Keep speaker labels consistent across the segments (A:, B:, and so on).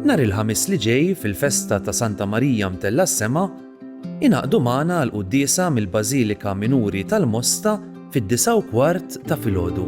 A: Nhar il-Ħamis li ġej fil-festa ta' Santa Marija Mtella s-Sema, ingħaqdu magħna għal quddiesa mill-Bażilika Minuri tal-Mosta fid-disgħa u kwart ta' filgħodu.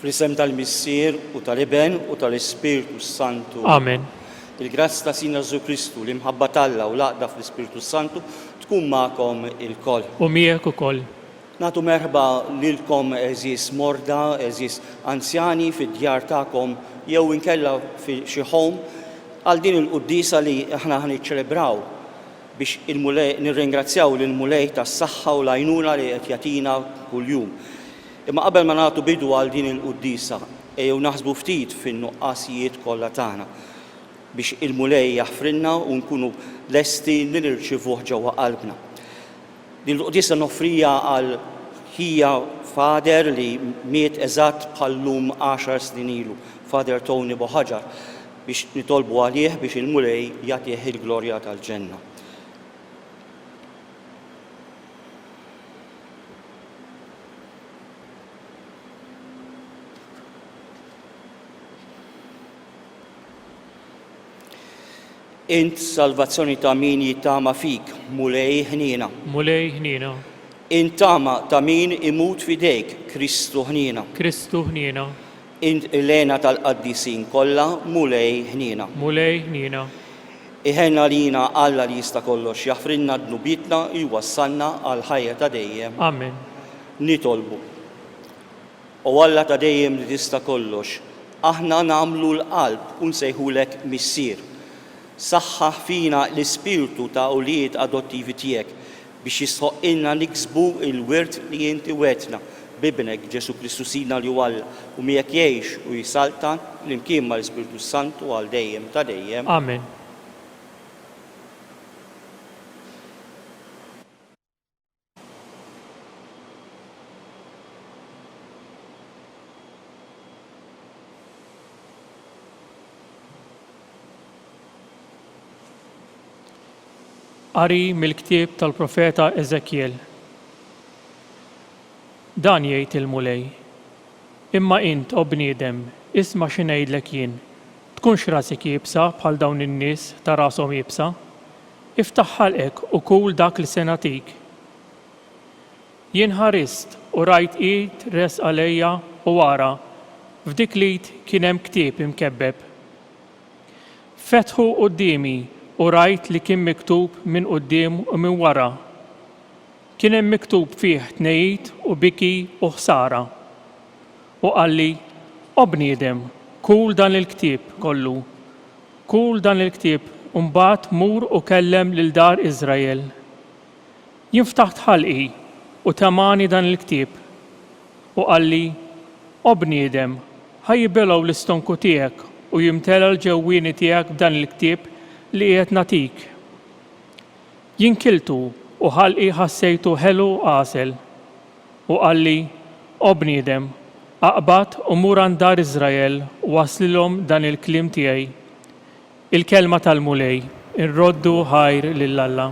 B: Fl-isem tal-Missier u tal-Iben u tal-Ispirtu s-Santu. Amen.
C: Il-grazz ta'
B: Sina Ġesu Kristu, l-imħabba t'Alla u l-għaqda fl-Ispirtu s-Santu tkun magħkom ilkoll. U miegħek ukoll.
C: Nagħtu merħba
B: lilkom għeżież morda, għeżież anzjani fid-djar tagħkom jew inkella fi xi home għal din il-quddiesa li aħna ħa niċċelebraw. biex il-Mulej, nirringrazzjaw lill-Mulej tas-saħħa u l-għajnuna li qed jagħtina kuljum. Imma qabel ma nagħtu bidu għal din il-quddiesa, ejjew naħsbu ftit fin-nuqqasijiet kollha tagħna, biex il-Mulej jaħfrilna u nkunu lesti li nirċievuh ġewwa qalbna. Din il-quddiesa noffriha għal ħija Father li miet eżatt bħal llum għaxar snin ilu, Father Tony Bohaġar, biex nitolbu għalih biex il-Mulej jagħtih il-glorja tal-ġenna. Int salvazzjoni ta' min jittama fik, Mulej ħniena. Mulej ħniena.
C: Int tama
B: ta' min imut f'idejk, Kristu ħniena. Kristu ħniena.
C: Int
B: l-għena tal-qaddisin kollha, Mulej ħniena. Mulej ħniena.
C: Iħenn
B: għalina Alla li jista' kollox, jaħfrilna dnubietna, jwassalna għall-ħajja ta' dejjem. Amen.
C: Nitolbu.
B: O Alla ta' dejjem li tista' kollox, aħna nagħmlu l-qalb u nsejħulek Missier. Saħħaħ fina l-ispirtu ta' ulied adottivi tiegħek biex jistħoqqilna niksbu l-wirt li inti wegħdtna b'Ibnek, Ġesù Kristu Sidna li hu Alla u miegħek jgħix u jsaltan flimkien mal-Ispirtu s-Santu għal dejjem ta' dejjem. Amen.
C: Qari mill-ktieb tal-profeta Eżekjel. Dan jgħid il-Mulej, Imma int, o bniedem, isma' xi ngħidlek jien, tkunx rasek iebsa bħal dawn in-nies ta' rashom iebsa. Iftaħ ħalqek u kul dak li se nagħtik. Jien ħarist u rajt id resqa lejja u ara, f'dik l-id kien hemm ktieb imkebbeb. Fetħu quddiemi u rajt li kien miktub minn quddiem u minn wara. Kien hemm miktub fih tnegħid u biki u ħsara. U qalli, O bniedem, kul dan il-ktieb kollu. Kul dan il-ktieb u mbagħad mur u kellem lil dar Iżrael. Jien ftaħt ħalqi u temgħani dan il-ktieb. U qalli, O bniedem, ħa jibelgħu l-istonku tiegħek u jimtela l-ġewwieni tiegħek b'dan il-ktieb li qiegħed nagħtik. Jien kiltu u ħalqi ħassejtu ħelu għasel. U qalli, O bniedem, aqbad u mur għand dar Iżrael u wasslilhom dan il-kliem tiegħi, Il-kelma tal-Mulej, Irroddu ħajr lil Alla.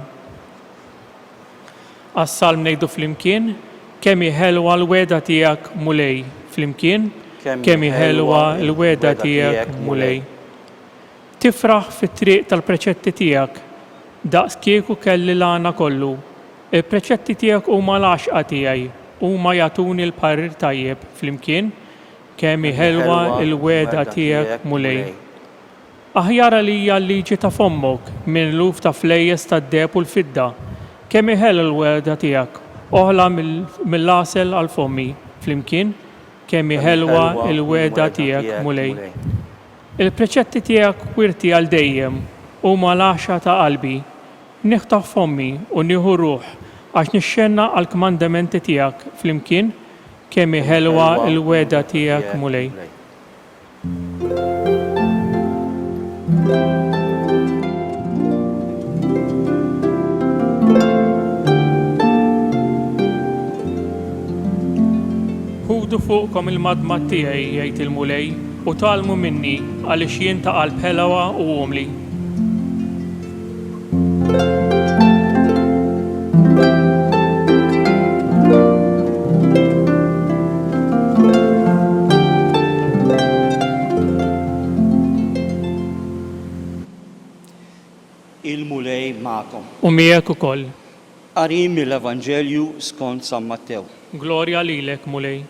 C: Għas-salm ngħidu flimkien, Kemm hi ħelwa l-wegħda tiegħek, Mulej, flimkien, Kemm hi ħelwa l-wegħda tiegħek, Mulej. Tifraħ fit-triq tal-preċetti tiegħek, daqs kieku kelli l-għana kollu. Il-preċetti tiegħek huma l-għaxqa tiegħi, huma jagħtuni l-parir tajjeb flimkien, kemm hi ħelwa l-wegħda tiegħek, Mulej. Aħjar għalija l-liġi ta' fommok minn eluf ta' flejjes tad-deheb u l-fidda, kemm hi ħelwa l-wegħda tiegħek, oħla mill-għasel għal fommi, flimkien, kemm hi ħelwa l-wegħda tiegħek, Mulej. Il-preċetti tiegħek wirti għal dejjem huma l-għaxa ta' qalbi. Niħtaf f'ommi u nieħu ruħ għax nixxennaq għall-kmandamenti tiegħek flimkien, kemm hi ħelwa l-wegħda tiegħek, Mulej. Ħudu fuqkom il-madmad tiegħi, jgħid il-Mulej. U tgħallmu minni, għaliex jien ta' qalb ħelwa u umli.
B: Il-Mulej magħkom. U miegħek ukoll.
C: Qari
B: mill-Evanġelju skont San Mattew. Glorja lilek,
C: Mulej.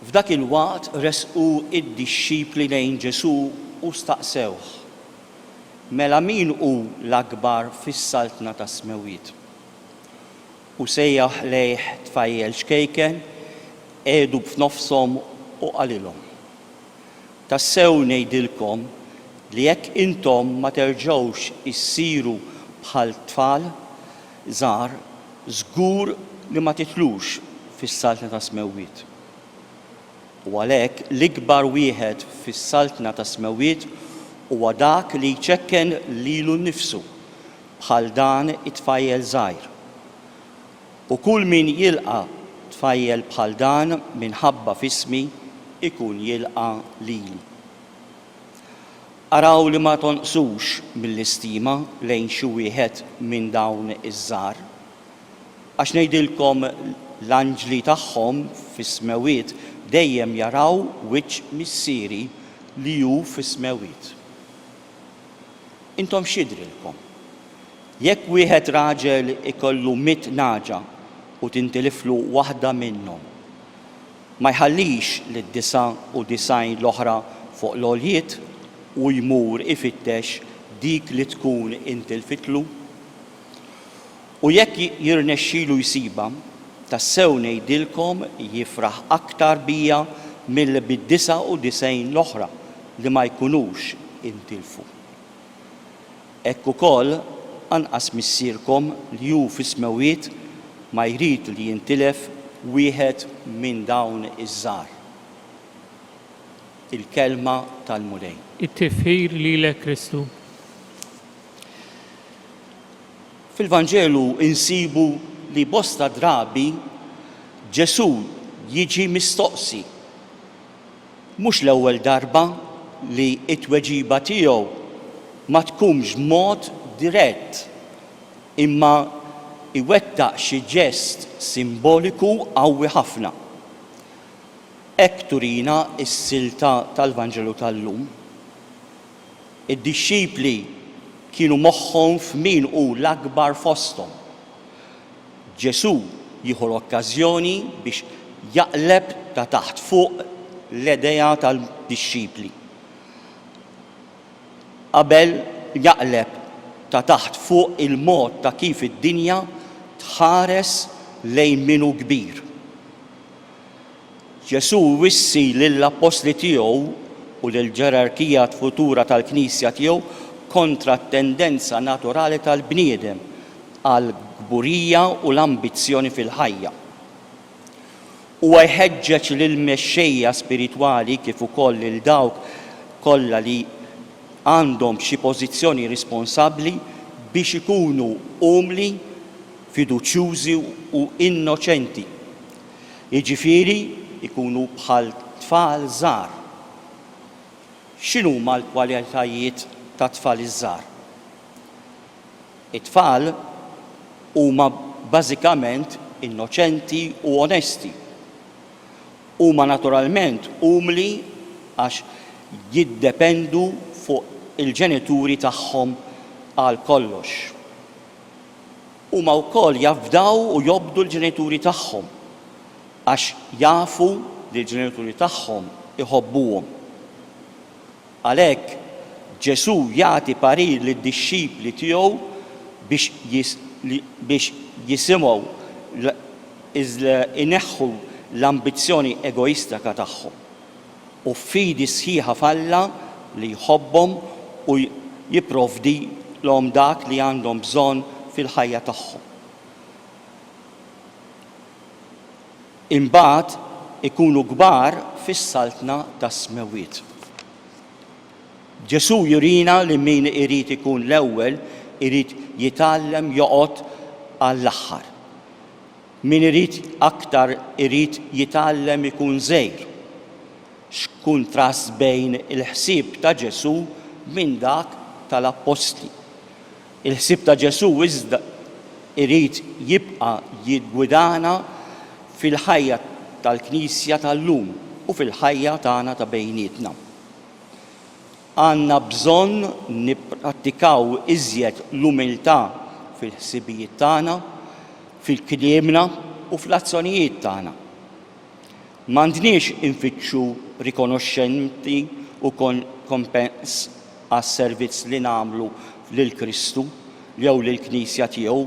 C: F'dak
B: il-waqt resqu d-dixxipli lejn Ġesù u staqsewh, Mela min hu l-akbar fis-Saltna tas-Smewwiet? U sejjaħ lejh tfajjel ċkejken qiegħdu f'nofshom u qalilhom, Tassew ngħidilkom li jekk intom ma terġgħux issiru bħal tfal, żgħar, żgur li ma tidħlux fis-Saltna tas-Smewwiet. U għalhekk l-ikbar wieħed fis-Saltna tas-Smewwiet huwa dak li jċekken lilu nnifsu bħal dan it-tfajjel żgħir. U kull min jilqa' tfajjel bħal dan minħabba f'ismi jkun jilqa' lili. Araw li ma tonqsux mill-istima lejn xi wieħed minn dawn iż-żgħar. Għax ngħidilkom, l-anġli tagħhom fis-smewwiet dejjem jaraw wiċċ Missieri li hu fis-smewwiet. Intom x'jidhrilkom? Jekk wieħed raġel ikollu mitt nagħġa u tintiliflu waħda minnhom, ma jħallix lid-99 l-oħra fuq l-għoljiet u jmur ifittex dik li tkun intilfitlu? U jekk jirnexxilu jsibha, tassew ngħidilkom jifraħ aktar bija milli bid-99 l-oħra li ma jkunux intilfu. Hekk ukoll, anqas Missierkom li hu fis-smewwiet ma jrid li jintilef wieħed minn dawn iż-żgħar. Il-Kelma tal-Mulej. It-Tifħir
C: lilek Kristu.
B: Fil-Vanġelu nsibu li bosta drabi Ġesù jiġi mistoqsi. Mhux l-ewwel darba li t-tweġiba tiegħu ma tkunx b'mod dirett, imma jwettaq xi ġest simboliku qawwi ħafna. Hekk turina s-silta tal-Vanġelu tal-lum. Id-dixxipli kienu moħħhom f'min hu l-akbar fosthom. Ġesù jieħu l-okkażjoni biex jaqleb ta' taħt fuq l-idea tad-dixxipli. Qabel jaqleb ta' taħt fuq il-mod ta' kif id-dinja tħares lejn min hu kbir. Ġesù jwissi lill-appostli tiegħu u lill-ġerarkija futura tal-Knisja tiegħu kontra t-tendenza naturali tal-bniedem għall-kburija u l-ambizzjoni fil-ħajja. Huwa jħeġġeġ lill-mexxejja spiritwali kif ukoll lil dawk kollha li għandhom xi pożizzjoni responsabbli biex ikunu umli, fiduċjużi u innoċenti jiġifieri jkunu bħal tfal żgħar. X'inhuma l-kwalitajiet tat-tfal iż-żgħar? It-tfal huma bażikament innoċenti u onesti. Huma naturalment umli għax jiddependu fuq il-ġenituri tagħhom għal kollox. Huma wkoll jafdaw u jobdu l-ġenituri tagħhom għax jafu li l-ġenituri tagħhom iħobbuhom. Għalhekk, Ġesù jagħti parir lid-dixxipli tiegħu biex jisimgħu l ineħħu l-ambizzjoni egoistika tagħhom. u f'fidi sħiħa f'Alla li jħobbhom u jipprovdilhom dak li għandhom bżonn fil-ħajja tagħhom. Imbagħad ikunu kbar fis-Saltna tas-Smewwiet. Ġesù jurina li min irid ikun l-ewwel irid jitgħallem joqgħod għall-aħħar. Min irid aktar irid jitgħallem ikun żgħir. X'kuntrast bejn il-ħsieb ta' Ġesù minn dak tal-appostli! Il-ħsieb ta' Ġesù iżda irid jibqa' jiggwidana fil-ħajja tal-Knisja tal-lum u fil-ħajja tagħna ta' bejnietna. Għandna bżonn nipprattikaw iżjed l-umiltà fil-ħsibijiet tagħna, fil-kliemna u fl-azzjonijiet tagħna. M'għandniex infittxu rikonoxximenti u kompens għas-servizz li nagħmlu lil Kristu jew lill-Knisja tiegħu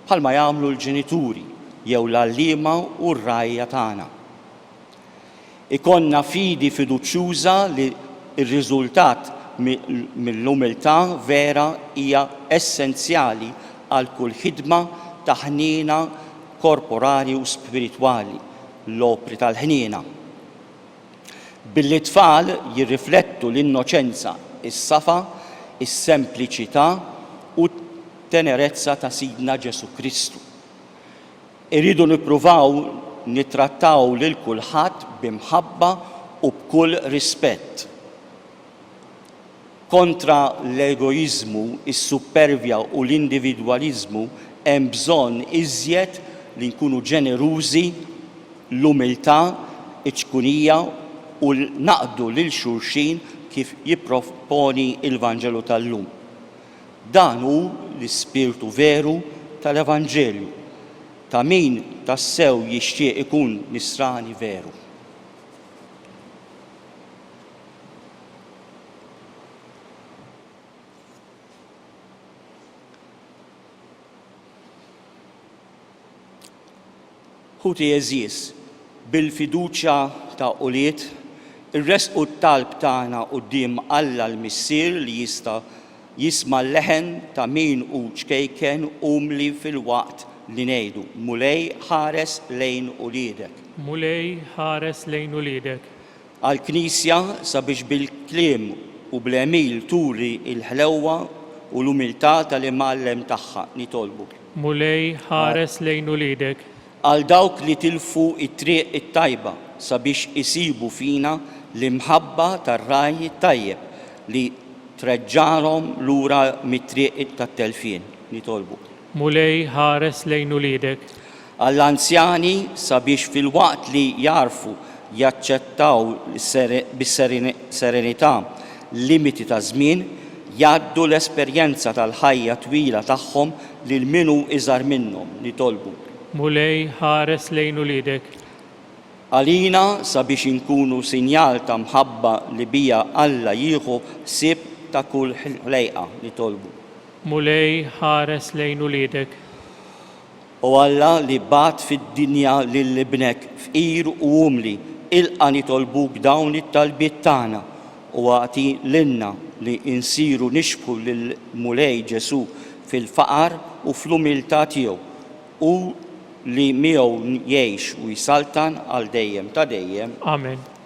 B: bħalma jagħmlu l-ġenituri jew l-għalliema u r-rgħajja tagħna. Ikollna fidi fiduċjuża li r-riżultat mill-umiltà vera hija essenzjali għal kull ħidma ta' ħniena korporali u spiritwali, l-opri tal-ħniena. Billi t-tfal jirriflettu l-innoċenza, is-safa, is-sempliċità u t-tenerezza ta' Sidna Ġesù Kristu, Irridu nippruvaw nittrattaw lil kulħadd b'imħabba u b'kull rispett. Kontra l-egoiżmu, is-suppervja u l-individwaliżmu hemm bżonn iżjed li nkunu ġenerużi, l-umiltà, iċ-ċkunija u naqdu lil xulxin kif jipproponi l-Vanġelu tal-lum. Dan hu l-ispirtu veru tal-Evanġelju ta' min tassew jixtieq ikun Nisrani veru. Ħuti għeżież, bil-fiduċja ta' ulied, irressqu t-talb tagħna quddiem Alla l-Missier li jista' jisma' l-leħen ta' min hu ċkejken umli filwaqt li ngħidu, Mulej ħares lejn uliedek. Mulej
C: ħares lejn uliedek. għall-Knisja
B: sabiex bil-kliem u bl-għemil turi l-ħlewwa u l-umiltà tal-Imgħallem tagħha. Nitolbu. Mulej,
C: ħares lejn uliedek. Għal dawk li
B: tilfu t-triq it-tajba sabiex isibu fina l-imħabba tar-Ragħaj it-Tajjeb li treġġagħlhom lura mit-triq tat-telfien. Nitolbu. Mulej,
C: ħares lejn uliedek. Għall-anzjani,
B: sabiex filwaqt li jagħrfu jaċċettaw bis-serenità l-limiti taż-żmien, jgħaddu l-esperjenza tal-ħajja twila tagħhom lil min hu iżgħar minnhom, nitolbu. Mulej,
C: ħares lejn uliedek. Għalina,
B: sabiex inkunu sinjal ta' mħabba li biha Alla jieħu ħsieb ta' kull ħlejqa, nitolbu. Mulej,
C: ħares lejn uliedek.
B: O Alla li bagħat fid-dinja lil Ibnek fqir u umli, ilqa' nitolbuk dawn it-talbiet tagħna u agħti lilna li nsiru nixbħu lill-Mulej Ġesù fil-faqar u fl-umiltà tiegħu, hu li miegħu jgħix u jsaltan għal dejjem ta' dejjem. Amen.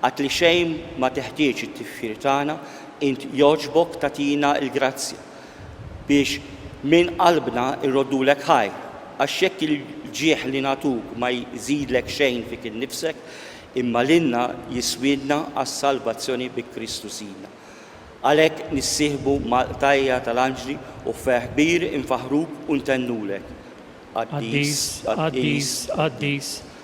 B: Għad li xejn ma teħtieġ it-tifħir tagħna, int jogħġbok tagħtina l-grazzja biex minn qalbna nroddulek ħajr. Għax jekk il-ġieħ li nagħtuk ma jżidlek xejn fik innifsek, imma lilna jiswielna għas-salvazzjoni bi Kristu Sidna. Għalhekk nissieħbu mal-qtajja' tal-anġli u f'ferħ kbir infaħħruk u ntennulek, Qaddis,
C: Qaddis, Qaddis.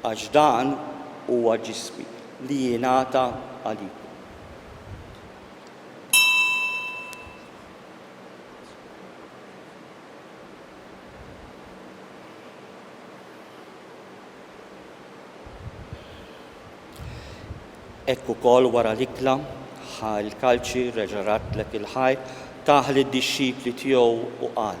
B: Għax dan huwa ġismi, li jingħata għalikom. Hekk ukoll wara l-ikla, ħa l-kalċi, reġa' radlek il-ħajt, tah lid-dixxipli tiegħu u qal,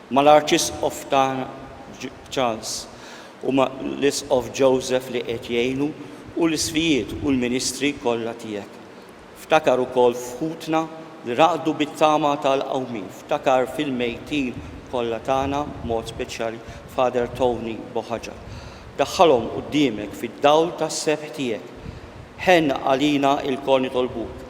B: Ma' l-Arċisqof tagħna Charles u ma' l-Isqof Joseph li qed jgħinu u l-isqfijiet u l-ministri kollha tiegħek. Ftakar ukoll f'ħutna li raqdu bit-tama tal-qawmien. Ftakar fil-mejtin kollha tagħna b'mod speċjali Father Tony Bohaġa. Daħħalhom quddiemek fid-dawl tas-sebħ tiegħek. Ħenn għalina ilkoll nitolbuk.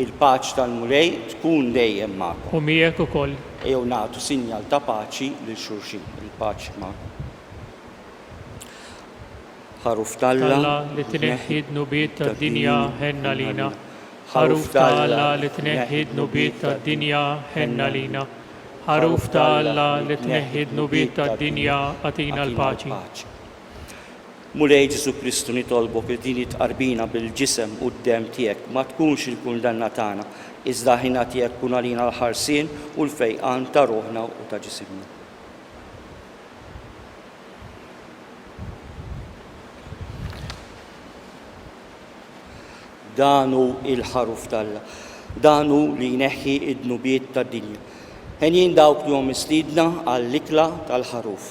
C: Il-paċ
B: tal-Mulej tkun dejjem magħkom. U miegħek ukoll.
C: Ejjew nagħtu sinjal
B: ta' paċi lil xulxin. Il-paċi magħkom. Ħaruf t'Alla. T'Alla li
C: tneħħi d-dnubiet tad-dinja ħenn għalina. Ħaruf t'Alla li tneħħi d-dnubiet tad-dinja ħenn għalina. Ħaruf t'Alla li tneħħi d-dnubiet tad-dinja agħtina l-paċi.
B: Mulej Ġesù Kristu nitolbok li din it-tqarbina bil-ġisem u d-demm tiegħek ma tkunx il-kundanna tagħna, iżda l-ħniena tiegħek tkun għalina l-ħarsien u l-fejqan ta' ruħna u ta' ġisimna. Dan hu l-Ħaruf t'Alla. Dan hu li jneħħi d-dnubiet tad-dinja. Henjin dawk li huma mistiedna għall-ikla tal-Ħaruf.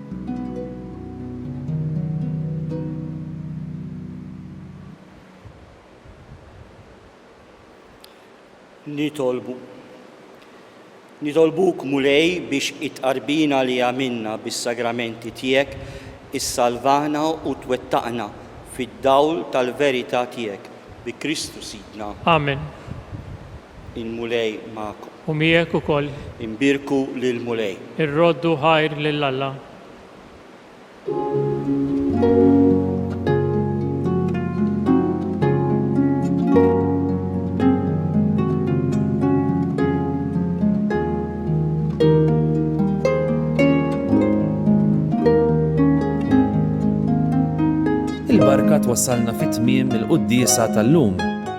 B: Nitolbu. Nitolbuk, Mulej, biex it-tqarbina li għamilna bis-sagramenti tiegħek issalvana u twettaqna fid-dawl tal-verità tiegħek, bi Kristu Sidna. Amen. Il-Mulej magħkom. U miegħek ukoll.
C: Imbierku
B: lill-Mulej. Irroddu ħajr
C: lil Alla.
A: Il-barka twassalna fi tmiem il-quddiesa tal-lum.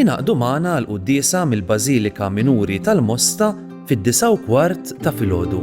A: Ingħaqdu magħna għall-quddiesa mill-Bażilika Minuri tal-Mosta fid-disgħa u kwart ta' filgħodu.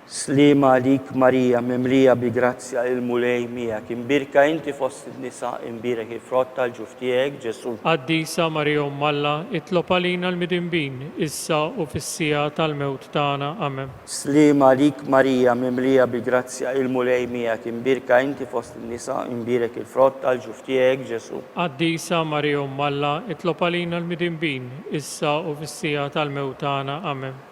C: Sliema għalik
B: Marija mimlija bi grazzja il-Mulej miegħek, imbierka inti fost in-nisa, imbierek il-frott tal-ġuf tiegħek Ġesù. Qaddisa Marija
C: Omm Alla, itlob għalina l-midinbin, issa u fis-siegħa tal-mewt tagħna. Amen. Sliema għalik
B: Marija mimlija bi grazzja il-Mulej miegħek, imbierka inti fost in-nisa, imbierek il-frott tal-ġuf tiegħek Ġesù. Qaddisa Marija
C: Omm Alla, itlob għalina l-midinbin, issa u fis-siegħa tal-mewt tagħna. Amen.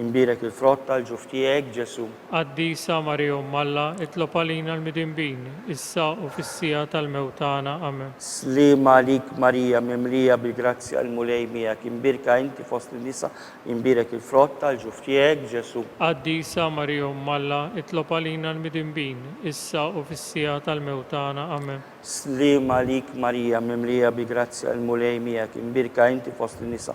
B: Inbierek il-frott tal-ġuf tiegħek, Ġesù. Qaddisa Marija
C: Omm Alla, itlob għalina l-midinbin, issa u fis-siegħa tal-mewt tagħna. Amen. Sliem għalik
B: Marija, mimlija bil-grazzja, il-Mulej miegħek, imbierka inti fost in-nisa, inbierek il-frott tal-ġuf tiegħek, Ġesù. Qaddisa Marija
C: Omm Alla, itlob għalina l-midinbin, issa u fis-siegħa tal-mewt tagħna. Amen. Sliem għalik
B: Marija, mimlija bil-grazzja, il-Mulej miegħek, imbierka inti fost in-nisa,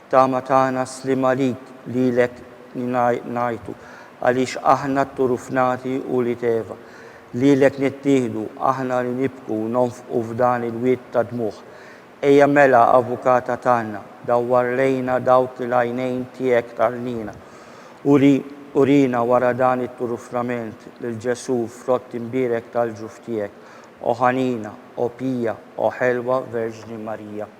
B: Tama tagħna sliem għalik, lilek ngħajtu, għaliex aħna t-turufnati ulied Eva. Lilek nittieħdu, aħna li nibku u nonfqu f'dan il-wied ta' dmugħ. Ejja mela, Avukata tagħna, dawwar lejna dawk li l-għajnejn tiegħek tarlina. Uri, urina wara dan it-turufnament lil Ġesù, frott imbierek tal-ġuf tiegħek. O ħanina, o pija, o ħelwa Verġni Marija.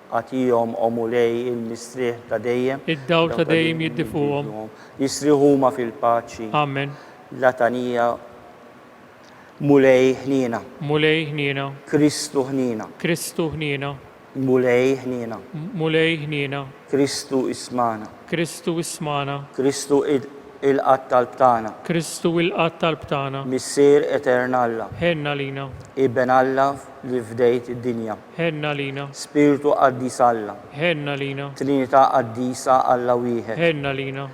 B: Agħtihom, O Mulej, il-mistrieħ ta' dejjem. Id-dawl ta' dejjem
C: jiddi fuqhom. Jistrieħu huma
B: fil-paċi. Amen.
C: L-għatanija,
B: Mulej, ħniena.
C: Mulej, ħniena.
B: Kristu, ħniena.
C: Kristu, ħniena.
B: Mulej, ħniena. Mulej, ħniena.
C: Kristu,
B: ismagħna. Kristu, ismagħna.
C: Kristu,
B: ilqa' t-talb tagħna. Kristu, ilqa'
C: t-talb tagħna. Missier etern
B: Alla. Ħenn għalina.
C: Iben Alla
B: li fdejt id-dinja. Ħenn għalina.
C: Spirtu Qaddis
B: Alla. Ħenn għalina.
C: Trinità Qaddisa
B: Alla Wieħed. Ħenn għalina.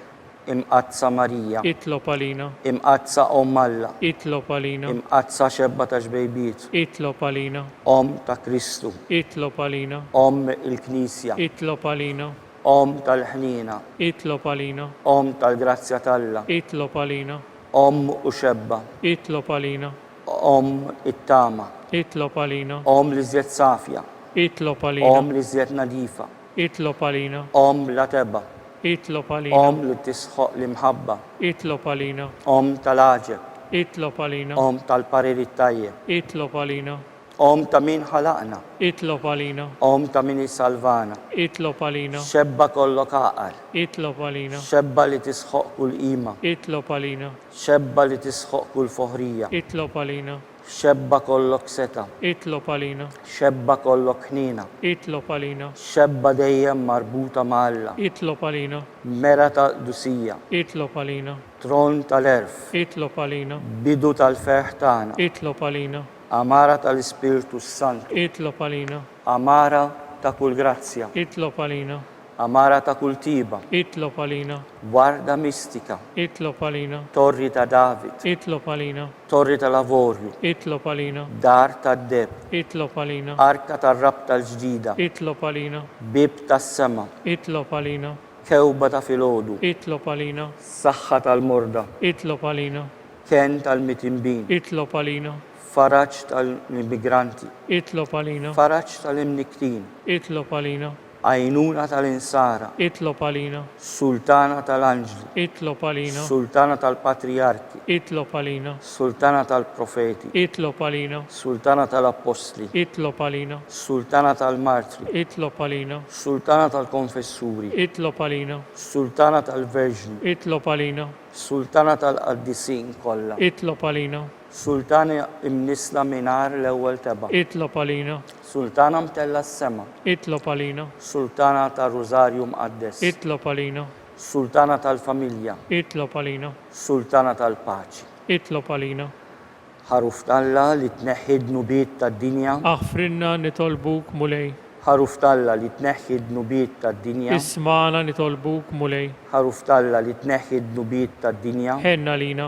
C: Imqaddsa
B: Marija. Itlob għalina.
C: Imqaddsa Omm
B: Alla. Itlob għalina.
C: Imqaddsa Xebba ta'
B: Xbejbiet. Itlob għalina.
C: Omm ta'
B: Kristu. Itlob għalina.
C: Omm il-Knisja.
B: Itlob għalina.
C: Omm
B: tal-ħniena. Itlob għalina.
C: Omm tal-grazzja
B: t'Alla. Itlob għalina.
C: Omm u
B: Xebba. Itlob għalina.
C: Omm
B: it-tama. Itlob għalina.
C: Omm l-iżjed safja.
B: Itlob għalina.
C: Omm l-iżjed nadifa.
B: Itlob għalina.
C: Omm bla tebgħa.
B: Itlob għalina.
C: Omm li tisħoq
B: l-imħabba. Itlob għalina.
C: Omm tal-għaġeb.
B: Itlob għalina.
C: Omm tal-parir
B: it-tajjeb. Itlob għalina.
C: Omm ta' min
B: ħalaqna. Itlob għalina.
C: Omm ta' min
B: isalvana. Itlob għalina.
C: Xebba kollok
B: għaqal. Itlob għalina.
C: Xebba li tisħoq
B: kull qima. Itlob għalina.
C: Xebba li
B: tisħoq kull foħrija. Itlob għalina.
C: Xebba kollok
B: setgħa. Itlob għalina.
C: Xebba kollok
B: ħniena. Itlob għalina.
C: Xebba dejjem
B: marbuta ma' Alla. Itlob għalina.
C: Mera ta'
B: qdusija. Itlob għalina.
C: Tron tal-għerf.
B: Itlob għalina.
C: Bidu tal-ferħ
B: tagħna. Itlob għalina.
C: Għamara
B: tal-Ispirtu s-Santu. Itlob għalina.
C: Għamara
B: ta' kull grazzja. Itlob għalina.
C: Għamara ta' kull
B: tjieba. Itlob għalina.
C: Warda mistika.
B: Itlob għalina.
C: Torri ta' David.
B: Itlob għalina.
C: Torri tal-avorju.
B: Itlob għalina.
C: Dar tad-deheb.
B: Itlob għalina.
C: Arka tar-rabta
B: l-ġdida. Itlob għalina.
C: Bieb tas-sema.
B: Itlob għalina.
C: Kewba ta'
B: filgħodu. Itlob għalina.
C: Saħħa tal-morda.
B: Itlob għalina.
C: Kenn
B: tal-mitinbin. Itlob għalina.
C: Faraġ
B: tal-immigranti. Itlob għalina.
C: Faraġ tal-imnikktin.
B: Itlob għalina.
C: Għajnuna
B: tal-Insara. Itlob għalina.
C: Sultana
B: tal-Anġli. Itlob għalina.
C: Sultana tal-Patrijarki.
B: Itlob għalina.
C: Sultana
B: tal-Profeti. Itlob għalina.
C: Sultana tal-Appostli.
B: Itlob għalina.
C: Sultana tal-Martri.
B: Itlob għalina.
C: Sultana
B: tal-Konfessuri. Itlob għalina.
C: Sultana
B: tal-Verġni. Itlob għalina.
C: Sultana
B: tal-Qaddisin kollha. Itlob għalina.
C: Sultana
B: imnissla mingħajr l-ewwel tebgħa. Itlob għalina.
C: Sultana mtellgħa
B: s-sema. Itlob għalina.
C: Sultana
B: tar-Rużarju Mqaddes. Itlob għalina.
C: Sultana
B: tal-familja. Itlob għalina.
C: Sultana
B: tal-paċi. Itlob għalina.
C: Ħaruf
B: t'Alla li tneħħi d-dnubiet tad-dinja. Aħfrilna
C: nitolbuk, Mulej. Ħaruf t'Alla li
B: tneħħi d-dnubiet tad-dinja. Ismagħna nitolbuk,
C: Mulej. Ħaruf t'Alla li
B: tneħħi d-dnubiet tad-dinja. Ħenn għalina.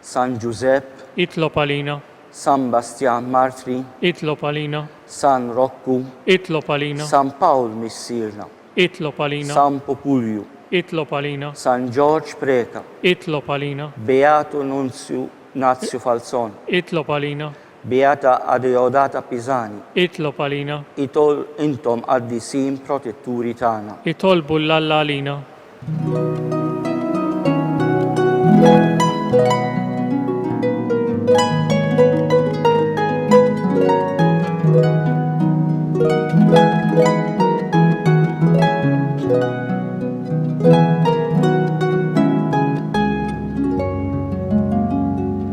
B: San Ġużepp. Itlob għalina.
C: San Bastjan
B: Martri. Itlob għalina.
C: San Rokku.
B: Itlob għalina.
C: San Pawl
B: Missierna. Itlob għalina.
C: San Pupulju.
B: Itlob għalina.
C: San Ġorġ
B: Preta. Itlob għalina.
C: Beatu
B: Nunzju Nazju Falzon.
C: Itlob
B: għalina. Beata Adeodata Pisani. Itlob għalina.
C: Itol intom
B: qaddisin protetturi tagħna. Itolbu 'l Alla
C: għalina.